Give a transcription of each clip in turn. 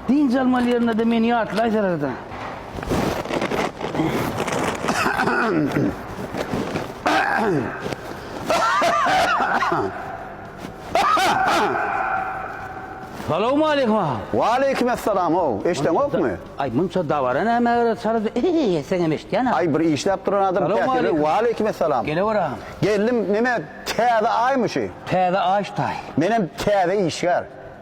Dynç almaly ýerinde-de meni ýatlaýsalar-da. Salawmaleýkim aga. Waleýkim essalam how, eşdeňokmy? Aý munça dabara näme gerek çaryda eýýe etseňem eşitýän aga. Aý bir işläp duran adam käte Salawmaleýkim. bir waleýkim essalam. Gelewür agam. Geldim neme täze aýmy şu? Täze aýyş taýy. Menem täze işgär.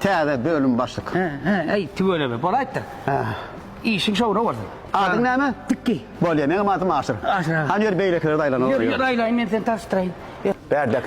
Täze bölüm başlyk. He, he, eý, tüweleme, bolaýypdyr. He. Işiň şowuna bolsun. Adyň näme? Tikki. Bolýa, meňem adym Aşyr. Aşyr aga. Hany ýör beýlekilere daýlanyň. Ýör, ýör, aýlaýyn, men seni tanyşdyraýyn. Ýör. Bärdäki